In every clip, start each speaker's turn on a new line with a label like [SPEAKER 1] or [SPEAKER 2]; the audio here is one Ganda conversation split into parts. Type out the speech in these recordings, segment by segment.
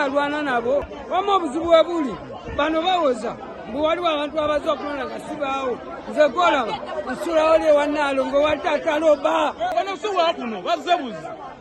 [SPEAKER 1] alwana nabo wama obuzibu webuli bano bawoza mbu waliwo abantu abaza okulonda nga sibaawo nze golaba nsulawo lyewanaalongo watata loba bano siwakuno
[SPEAKER 2] bazebuzi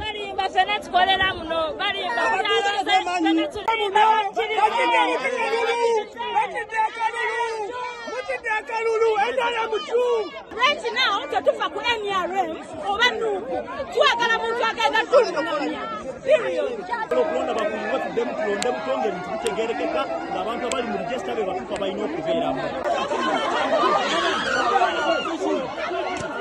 [SPEAKER 3] balimba fena
[SPEAKER 4] tukolera muno balimba Right now, tetufa ku NRM oba nuuku twagala muntu agenda tulunamya okulonda bakumu
[SPEAKER 2] batuddemu tulonde mutonga ebintu bitegerekeka ng'abantu abali mu regisita be batuuka balina okubeeramu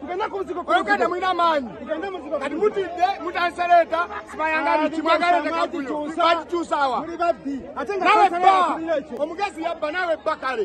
[SPEAKER 3] tugende ku muzigo olugenda mulina amaanyi kati mutidde mutandise leeta sibayangani kimwagala tekakuyo bakikyusawa nawe bba omugezi yabba nawe bba kale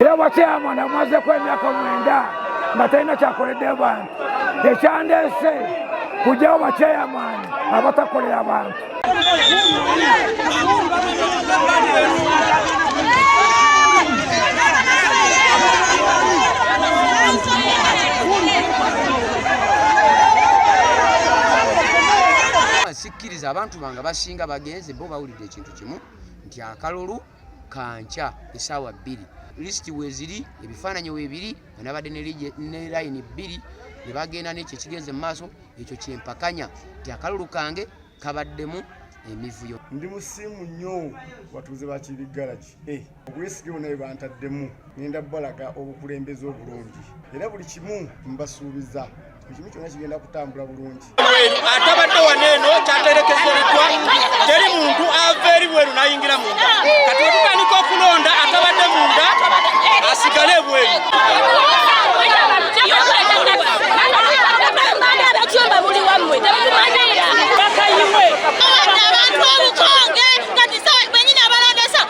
[SPEAKER 1] Ewa chairman amaze kwa emyaka mwenda nga talina kyakoledde bantu ekyandeese kujjawo bachairman abatakolera bantu
[SPEAKER 5] abantu bange basinga bagenze bo bawulidde ekintu kimu nti akalulu kankya esaawa bbiri lisiti weziri ebifaananyi webiri anabadde ne layini bbiri ne bagenda nekyo ekigenze mu maaso ekyo kyempakanya nti akalulu kange kabaddemu emivuyo ndi musiimu
[SPEAKER 6] nnyo batuuze bakibiggalaki eh, obwesige bona bwe bantaddemu ngenda balaga obukulembeze obulungi era buli kimu mbasuubiza ekimu kyonna kigenda kutambula bulungi atabadde
[SPEAKER 2] wano eno kyaterekezeddwa teri muntu ava eri bweru nayingira munda kati wetutandika okulonda atabadde munda asigale
[SPEAKER 4] ebweru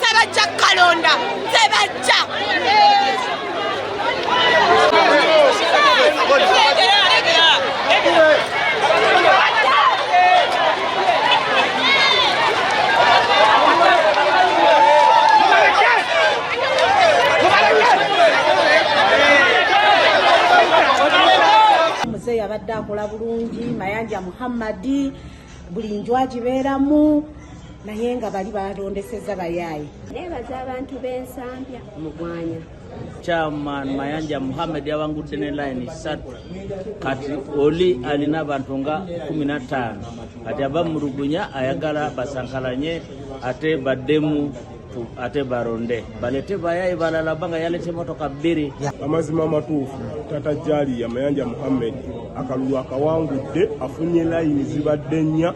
[SPEAKER 7] tebajja kalonda tebajja muzeeyi abadde akola bulungi mayanja muhammadi buli nju agibeeramu naye nga bali balondeseza bayaaye nebaza abantu
[SPEAKER 8] bensambya mugwanya chairman
[SPEAKER 9] mayanja muhamed yabangudde ne line satu kati oli alina abantu nga kumi na ttaano kati aba mulugunya ayagala basankalanye ate baddemu ate baronde balete bayaye balala banga yalete motoka bbiri amazima amatuufu
[SPEAKER 10] tata jaliya mayanja muhammed akalulu akawangudde afunye layini zibadde nnya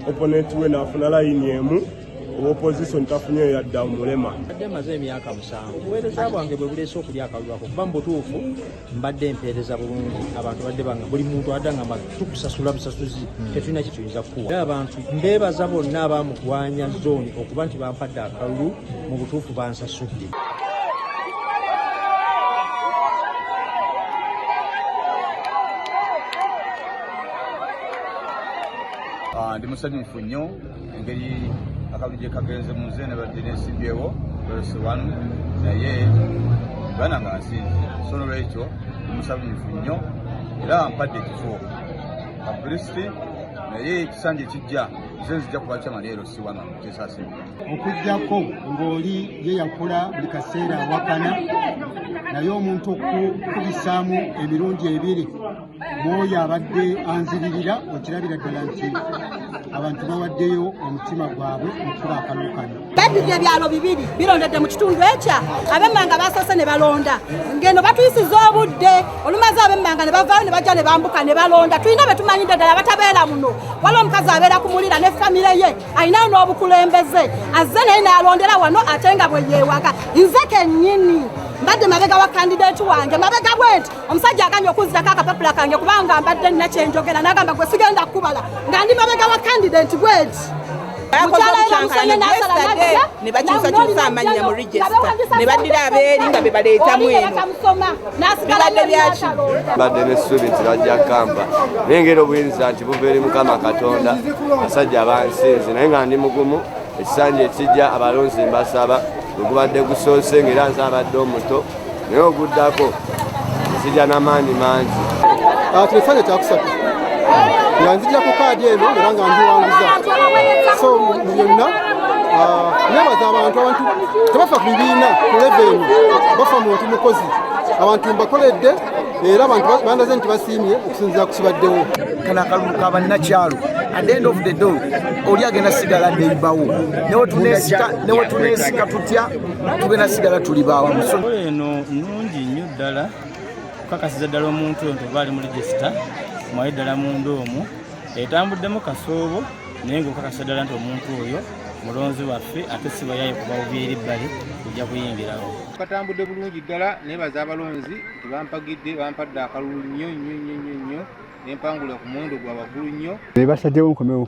[SPEAKER 10] oponenti we naafuna layini emu owopositioni tafunye oyo yadda omulema adde maze emyaka
[SPEAKER 11] musanvu obuweereza bwange bwe buleese okulya akalulu ako kuba mu butuufu mbadde empeereza bulungi abantu badde banga buli muntu adangamba tukusasula busasuzi hmm. tetulina kyetuyinza kukuwa era abantu mbeebaza bonna abamugwanya zooni okuba nti bampadde akalulu mu butuufu bansasudde
[SPEAKER 12] ah, ndi musanyufu nnyo engeri akalulu gye kagenze mu nze nabadde nesimbyewo verse one naye bana nga nsinze so nolwekyo omusabunifu nnyo era mpadde ekifo abulisiti naye ekisanja ekijja nze nzija kuba kyama leero siwana kyesase okujjako
[SPEAKER 13] ng'oli ye yakula buli kaseera awakana naye omuntu okukubisaamu emirundi ebiri mwoyo abadde anziririra okirabira ddala nti abantu bawaddeyo omutima gwabwe okukuba akalulu kano babibye ebyalo bibiri
[SPEAKER 14] birondedde mu kitundu ekya abemmanga basoose ne balonda ngeno batuyisiza obudde olumaze abemmanga ne bavaayo ne bajja ne bambuka ne balonda tulina be tumanyidde ddala batabeera muno waliwo omukazi abeera ku mulira ne famire ye alinayo n'obukulembeze azze naye naalondera wano ate nga bwe yeewaga nze kennyini mbadde mabega wa kandidati wange mabega bwenti omusajja agambye okunzirako akapapula kange kubanga mbadde nina kyenjogera nagamba gwe sigenda kukubala nga ndi mabega wa kandidenti bweti nebakyusakyusa amannya mu
[SPEAKER 15] regisita ne baddira abeeri nga be baleetamu eno bibadde byaki badde nesuubi
[SPEAKER 16] nti bajja kamba naye ngeri obuyinza nti buva eri mukama katonda basajja abansinzi naye nga ndi mugumu ekisanja ekijja abalonzi mbasaba wegubadde gusoose ngaera nze abadde omuto naye oguddako nzija n'amaanyi mangi ah, kino ekifaanyi
[SPEAKER 13] kyakusatu nga nzijira ku kaadi eno era nga ndiwanguza so mu byonna ah, nebaza abantu abantu tebafa ku bibiina ku leve eno bafa muntu mukozi abantu mbakoledde era abantu bandaze nti basiimye okusinzira ku kibaddewo kana akalulu ka
[SPEAKER 17] bannakyalo at the end of the day oli agenda sigala neibawo newetunesika tutya tugenda sigala tuli bawamu eno
[SPEAKER 9] nungi nnyo ddala okukakasiza ddala omuntu ento oba ali mu regisita mwaye ddala munda omu etambuddemu kasoobo naye ngaokakasiza ddala nti omuntu oyo mulonzi waffe ate sibayaye kubawubyeri bbali ojja kuyingirawo katambudde bulungi
[SPEAKER 11] ddala naye baza abalonzi nti bampagidde bampadde akalulu nnyo nnyo nnyo nnyo nnyo nempangula ku muwendo gwa waggulu nnyo basajjawo nkomewo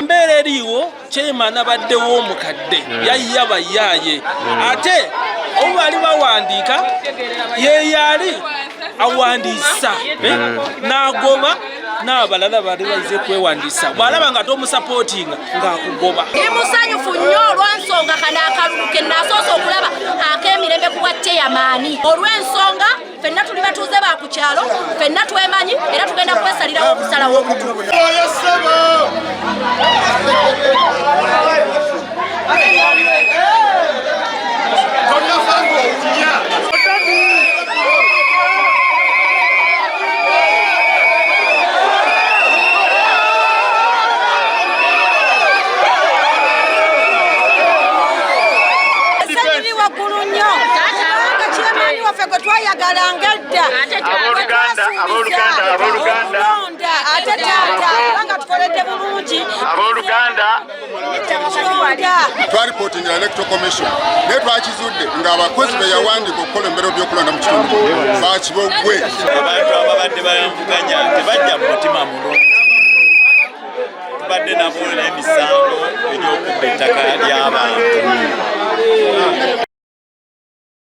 [SPEAKER 2] embeera eriiwo chairman abaddewo omukadde hmm. yayya bayaaye hmm. ate obu bali bawandiika yeyaali awandiisa hmm. nagoba n'abalala bali baize kwewandiisa bw'alaba nga tomusapootinga ng'akugoba ndi musanyufu
[SPEAKER 4] nnyo olw'ensonga kano akalulu ke naasoose okulaba ak'emirembe ku bwa chairman olw'ensonga fenna tuli batuuze ba ku kyalo fenna twemanyi era tugenda kwesalirawo okusalawo omutu
[SPEAKER 14] waffe gwe twayagalanga edda olonda ate taata kubanga tukoledde bulungi abooluganda
[SPEAKER 18] twalipotinga electoral commission naye twakizudde ng'abakozi be yawandiika okukola embeera by'okulonda mu kitundu bakiboggwe abantu
[SPEAKER 19] ababadde bayamvuganya tebajja mu mutima mulungi tubadde nabo n'emisango egy'okubba ettaka ly'abantu